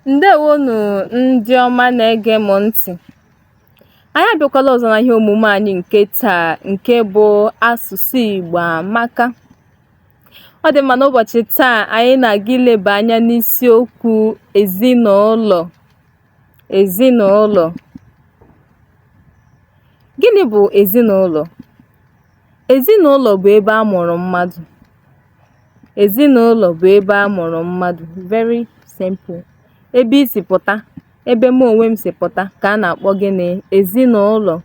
ndeewonụ ndị ọma na-ege m ntị̀ anyị abịakwala ọzọ na ihe omume anyị nke taa nke bụ asụsụ Igbo amaka ọ dị mma n'ụbọchị taa anyị na-aga ileba anya n'isiokwu ezinụlọ ezinụlọ gịnị bụ ezinụlọ Ezinụlọ bụ ebe a mụrụ mmadụ. Ezinụlọ bụ ebe a mụrụ mmadụ. Very simple. Ebe i si pụta, ebe mụ onwe m si pụta ka a na-akpọ gịnị? Ezinụlọ.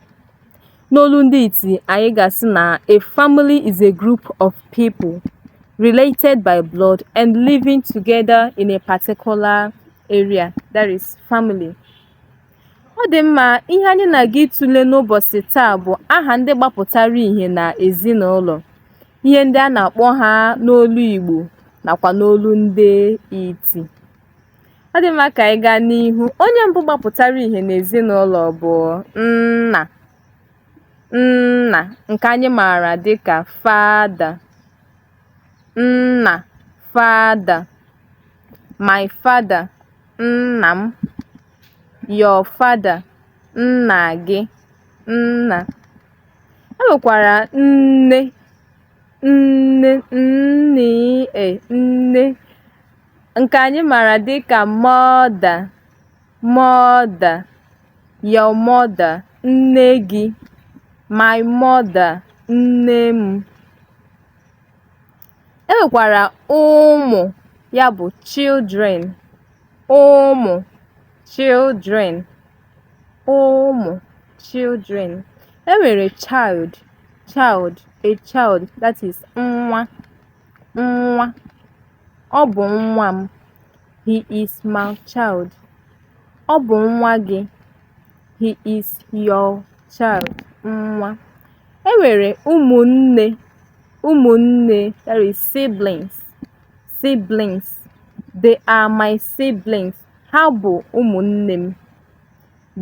N'olu ndị iti, anyị ga-asị na a family is a group of people related by blood and living together in a particular area. That is family. Ọ dị mma, ihe anyị na-aga ịtụle n'ụbọchị taa bụ aha ndị gbapụtara ihe na ezinụlọ, ihe ndị a na-akpọ ha n'olu Igbo nakwa n'olu ndị iti. Ọ dị mma ka anyị gaa n'ihu. Onye mbụ gbapụtara ihe n'ezinụlọ bụ nna. Nna nke anyị maara dịka father. Nna father. My father, nna m. your father, nna gị, nna. E nwekwara nne, n, n, e, nne. Nke anyị maara dị ka mother, mother, your mother, nne gị, my mother, nne m. E nwekwara ụmụ, ya bụ children. ụmụ children ụmụ children e nwere child child a child that is nwa nwa ọ bụ nwa m he is my child ọ bụ nwa gị he is your child nwa e nwere ụmụnne ụmụnne that is siblings siblings they are my siblings ha bụ ụmụnne m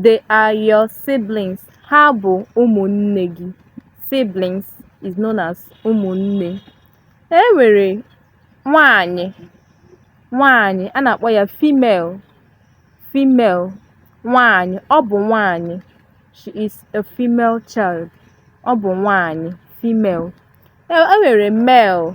they are your siblings ha bụ ụmụnne gị siblings is known as ụmụnne e nwere nwanyị nwanyị a na-akpọ ya female female nwanyị ọ bụ nwanyị she is a female child ọ bụ nwanyị female e nwere male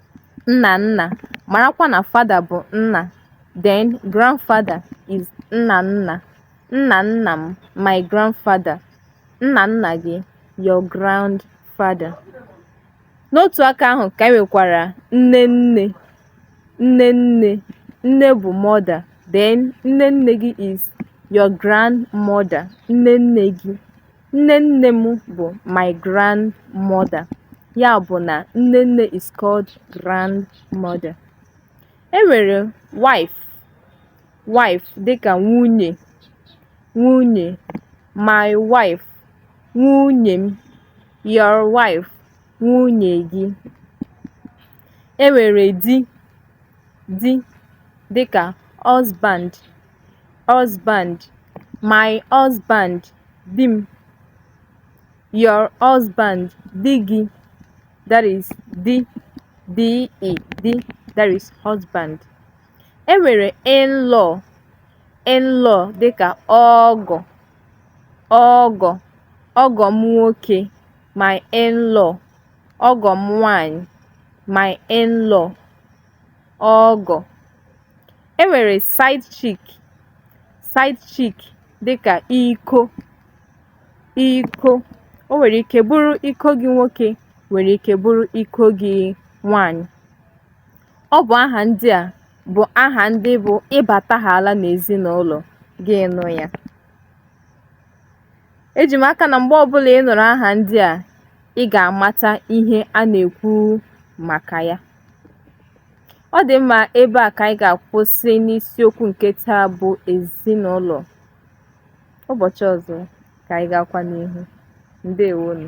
nna nna, marakwa na father bụ nna, then grandfather is nna nna, nna nna m, my grandfather, nna nna gị, your grandfather. N'otu aka ahụ ka e nwekwara nne nne, nne nne, nne bụ mother, then nne nne gị is your grandmother, nne nne gị. Nne nne m bụ my grandmother, ya bụ na nne nne is called grandmother. E nwere wife, wife dịka nwunye, nwunye, my wife, nwunye m, your wife, nwunye gị. E nwere di, di dịka husband, husband, my husband. Di m, your husband, di gị, that is di, D-E, di, that is husband. E nwere in-law, in-law dịka ọgọ, ọgọ, ọgọ m nwoke, my in-law, ọgọ m nwanyị, my in-law. ọgọ. E nwere side chick, side chick dịka iko, iko. O nwere ike bụrụ iko gị nwoke, nwere ike bụrụ iko gị nwanyị. Ọ bụ aha ndị a bụ aha ndị bụ ị batahaala n'ezinụlọ gị nụ ya. Eji m aka na mgbe ọbụla ị nụrụ aha ndị a, ị ga-amata ihe a na-ekwu maka ya. Ọ dị mma ebe a ka anyị ga-akwụsị n'isiokwu nke taa bụ ezinụlọ. Ụbọchị ọzọ ka anyị gaakwa n'ihu. Ndewonụ.